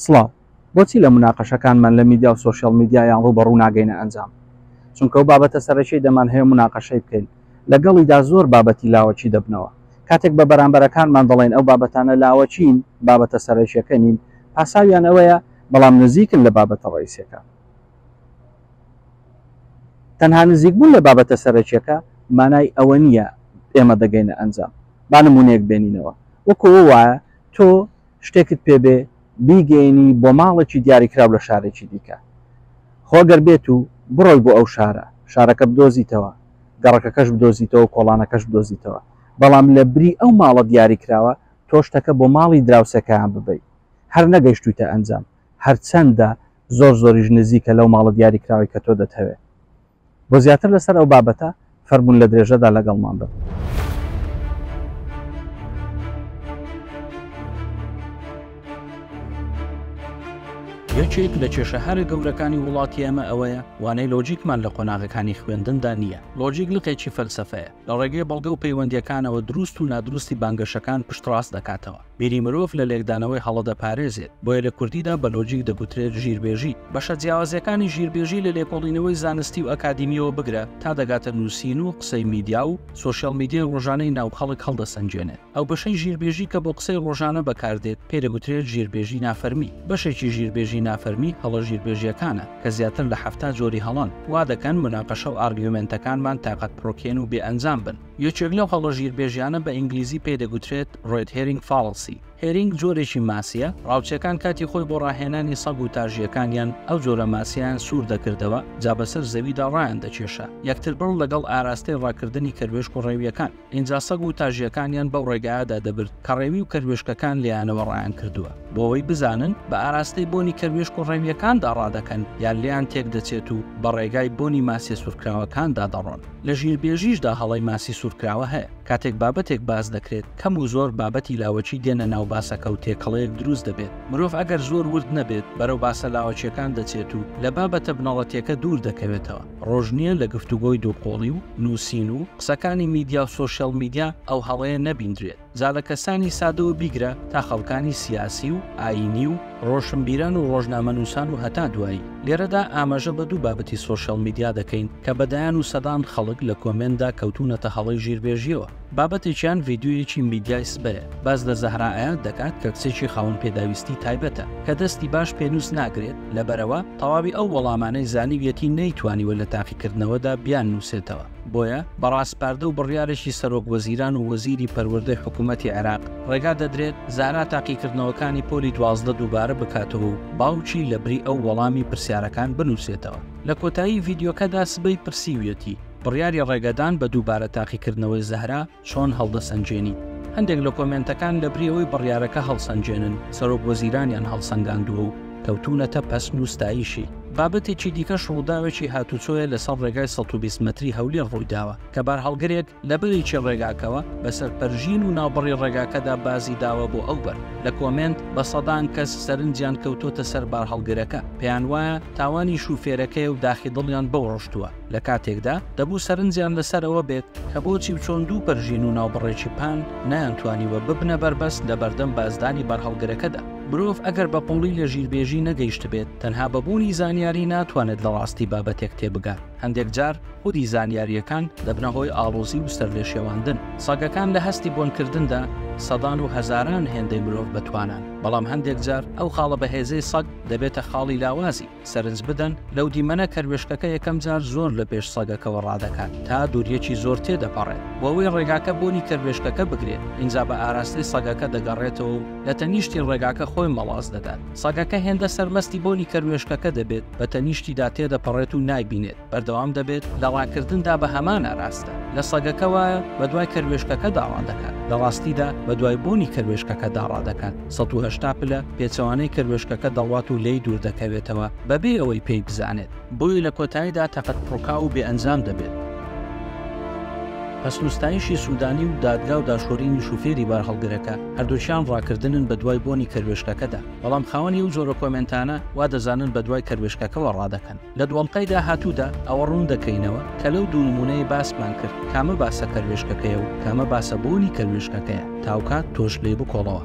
سڵاو. بۆچی لە موناقەشەکانمان لە میدیا و سۆشیاڵ میدیا یان ڕووبەڕوو ناگەینە ئەنجام؟ چونکە ئەو بابەتە سەرەکیەی دەمان هەیە و موناقەشەی بکەین لەگەڵیدا زۆر بابەتی لاوەکی دەبنەوە. کاتێک بە بەرامبەرەکانمان دەڵێین ئەو بابەتانە لاوەکین، بابەتە سەرەکیەکە نین، پاساویان ئەوەیە، بەڵام نزیکن لە بابەتە ڕەئیسیەکان. تەنها نزیکبوون لە بابەتە سەرەکیەکە مانای ئەوە نییە ئێمە دەگەینە ئەنجام. با نمونەیەک بێنینەوە. وەکو ئەو وایە تۆ. شتێکت پێ بێ بیگەیەنی بۆ ماڵێکی دیاریکراو لە شارێکی دیکە خۆ گەر بێت و بڕۆی بۆ ئەو شارە شارەکە بدۆزیتەوە گەڕەکەکەش بدۆزیتەوە کۆڵانەکەش بدۆزیتەوە بەڵام لە بری ئەو ماڵە دیاریکراوە تۆ شتەکە بۆ ماڵی دراوسێکەیان ببەی هەر نەگەیشتویتە ئەنجام هەرچەندە زۆر زۆریش نزیکە لەو ماڵە دیاریکراوەی کە تۆ دەتهەوێ بۆ زیاتر لەسەر ئەو بابەتە فەرموون لە درێژەدا لەگەڵمان بن. یەکێک لە کێشە هەرە گەورەکانی وڵاتی ئەمە ئەوەیە وانەی لۆجیکمان لە قۆناغەکانی خوێندندا نییە لۆجیک لقێکی فەلسفەیە لە ڕێگەی بەڵگە و پەیوەندیەکانەوە دروست و نادروستی بانگەشەکان پشتڕاست دەکاتەوە بیری مرۆڤ لە لێکدانەوەی هەڵە دەپارێزێت، بۆیە لە کوردیدا بە لۆجیک دەگوترێت ژیربێژی. بەشە جیاوازەکانی ژیربێژی لە لێکۆڵینەوەی زانستی و ئەکادیمییەوە بگرە تا دەگاتە نووسین و قسەی میدیا و سۆشیال میدیای ڕۆژانەی ناو خەڵک هەڵدەسەنگێنێت. ئەو بەشەی ژیربێژی کە بۆ قسەی ڕۆژانە بەکاردێت پێی دەگوترێت ژیربێژی نافەرمی. بەشێکی ژیربێژی نافەرمی هەڵە ژیربێژییەکانە کە زیاتر لە حەفتا جۆری هەڵەن، وا دەکەن موناقەشە و ئارگیومێنتەکانمان تاقەتپڕوکێن و بێ ئەنجام بن. یەکێک لەو هەڵە ژیربێژیانە بە ئینگلیزی پێی دەگوترێت ڕێد هێرینگ فاڵسی. هێرینگ جۆرێکی ماسییە، ڕاوچەکان کاتی خۆی بۆ ڕاهێنانی سەگ و تاژییەکانیان ئەو جۆرە ماسییەیان سوور دەکردەوە جا بەسەر زەویدا ڕایان دەکێشا یەکتر بڕ لەگەڵ ئاراستەی ڕاکردنی کەروێشک و ڕێوییەکان، ئینجا سەگ و تاژییەکانیان بەو ڕێگایەدا دەبرد کە ڕێوی و کەروێشکەکان لێیانەوە ڕایان کردووە بۆوەی بزانن بە ئاراستەی بۆنی کەروێشک و ڕێوییەکاندا ڕادەکەن یان لێیان تێکدەچێت و بە ڕێگای بۆنی ماسییە سوورکراوەکاندا دەڕۆن. لە ژیربێژیشدا هەڵەی ماسی سوورکراوە هەیە. کاتێک بابەتێک باس دەکرێت، کەم و زۆر بابەتی لاوەکی دێنە ناو باسەکە و تێکەڵەیەک دروست دەبێت. مرۆڤ ئەگەر زۆر ورد نەبێت، بەرەو باسە لاوەکییەکان دەچێت و لە بابەتە بنەڕەتییەکە دوور دەکەوێتەوە. ڕۆژ نییە لە گفتوگۆی دووقۆڵی و نووسین و قسەکانی میدیا و سۆشیاڵ میدیا ئەو هەڵەیە نەبیندرێت. جا لە کەسانی سادەوە بیگرە تا خەڵکانی سیاسی و ئایینی و ڕۆشنبیران و ڕۆژنامەنووسان و هەتا دوایی. لێرەدا ئاماژە بە دوو بابەتی سۆشیاڵ میدیا دەکەین کە بە دەیان و سەدان خەڵک لە کۆمێنتدا کەوتوونەتە هەڵەی ژیربێژییەوە. بابەتێکیان ڤیدیۆیەکی میدیای سبەیە، باس لە زەهرا ئەیاد دەکات کە کچێکی خاوەن پێداویستی تایبەتە کە دەستی باش پێنووس ناگرێت، لەبەرئەوە تەواوی ئەو وەڵامانەی زانیویەتی نەیتوانیوە لە تاقیکردنەوەدا بیاننووسێتەوە. بۆیە بە ڕاسپاردە و بڕیارێکی سەرۆک وەزیران و وەزیری پەروەردەی حکوومەتی عێراق ڕێگا دەدرێت زارا تاقیکردنەوەکانی پۆلی دوازدە دووبارە بکاتەوە و باوکی لە بری ئەو وەڵامی پرسیارەکان بنووسێتەوە. لە کۆتایی ڤیدیۆکەدا سبەی پرسیویەتی، بڕیاری ڕێگەدان بە دووبارە تاقیکردنەوەی زەهرا، چۆن هەڵدەسەنگێنیت؟ هەندێک لە کۆمێنتەکان لە بری ئەوەی بڕیارەکە هەڵسەنگێنن، سەرۆک وەزیرانیان هەڵسەنگاندووە و کەوتوونەتە پەسن و ستایشی. بابەتێکی دیکەش ڕووداوێکی هاتووچۆیە لەسەر ڕێگای سەد و بیست مەتری هەولێر ڕوویداوە، کە بارهەڵگرێک لە بەرێکی ڕێگاکەوە بەسەر پەرژین و ناوبڕی ڕێگاکەدا بازی داوە بۆ ئەو بەر. لە کۆمێنت بە سەدان کەس سەرنجیان کەوتووەتە سەر بارهەڵگرەکە، پێیانوایە تاوانی شوفێرەکەیە و داخی دڵیان بەو ڕشتووە. لە کاتێکدا دەبوو سەرنجیان لەسەر ئەوە بێت کە بۆچی و چۆن دوو پەرژین و ناوبڕێکی پان نەیانتوانیوە ببنە بەربەست لە بەردەم بازدانی بەرهەڵگرەکەدا. مرۆڤ ئەگەر بە قووڵی لە ژیربێژی نەگەیشتبێت، تەنها بە بوونی زانیاری ناتوانێت لە ڕاستی بابەتێک تێبگات. هەندێک جار خودی زانیارییەکان دەبنە هۆی ئاڵۆزی و سەرلێشێواندن. سەگەکان لە هەستی بۆنکردندا سەدان و هەزاران هێندەی مرۆڤ بەتوانان، بەڵام هەندێک جار ئەو خاڵە بەهێزەی سەگ دەبێتە خاڵی لاوازی. سەرنج بدەن لەو دیمەنە کەروێشکەکە یەکەم جار زۆر لە پێش سەگەکەوە ڕادەکات تا دووریەکی زۆر تێ دەپەڕێت بۆەوەی ڕێگاکە بۆنی کەروێشکەکە بگرێت ئینجا بە ئاراستەی سەگەکە دەگەڕێتەوە و لە تەنیشتی ڕێگاکە خۆی مەڵاس دەدات سەگەکە هێندە سەرمەستی بۆنی کەروێشکەکە دەبێت بە تەنیشتیدا تێدەپەڕێت و نایبینێت بەردەوام دەبێت لە ڕاکردندا بە هەمان ئاراستە، لە سەگەکە وایە بەدوای کەروێشکەکەدا ڕادەکات، لە ڕاستیدا بەدوای بۆنی کەروێشکەکەدا ڕادەکات، سەد و هەشتا پلە پێچەوانەی کەروێشکەکە دەڕوات و لێی دووردەکەوێتەوە بەبێ ئەوەی پێی بزانێت. بۆیە لە کۆتاییدا تەقەت پڕکاو و بێئەنجام دەبێت. پەسنوستایشی سودانی و دادگا و داشۆرینی شوفێری بارهەڵگرەکە، هەردووکیان ڕاکردنن بەدوای بۆنی کەروێشکەکەدا، بەڵام خاوەنی ئەو جۆرە کۆمێنتانە وادەزانن بەدوای کەروێشکەکەوە ڕادەکەن. لە دوانقەی داهاتوودا ئەوە ڕوون دەکەینەوە کە لەو دوو نموونەی باسمان کرد کامە باسە کەروێشکەکەیە و کامە باسە بۆنی کەروێشکەکەیە، تاوکات تۆش لێی بکۆڵەوە.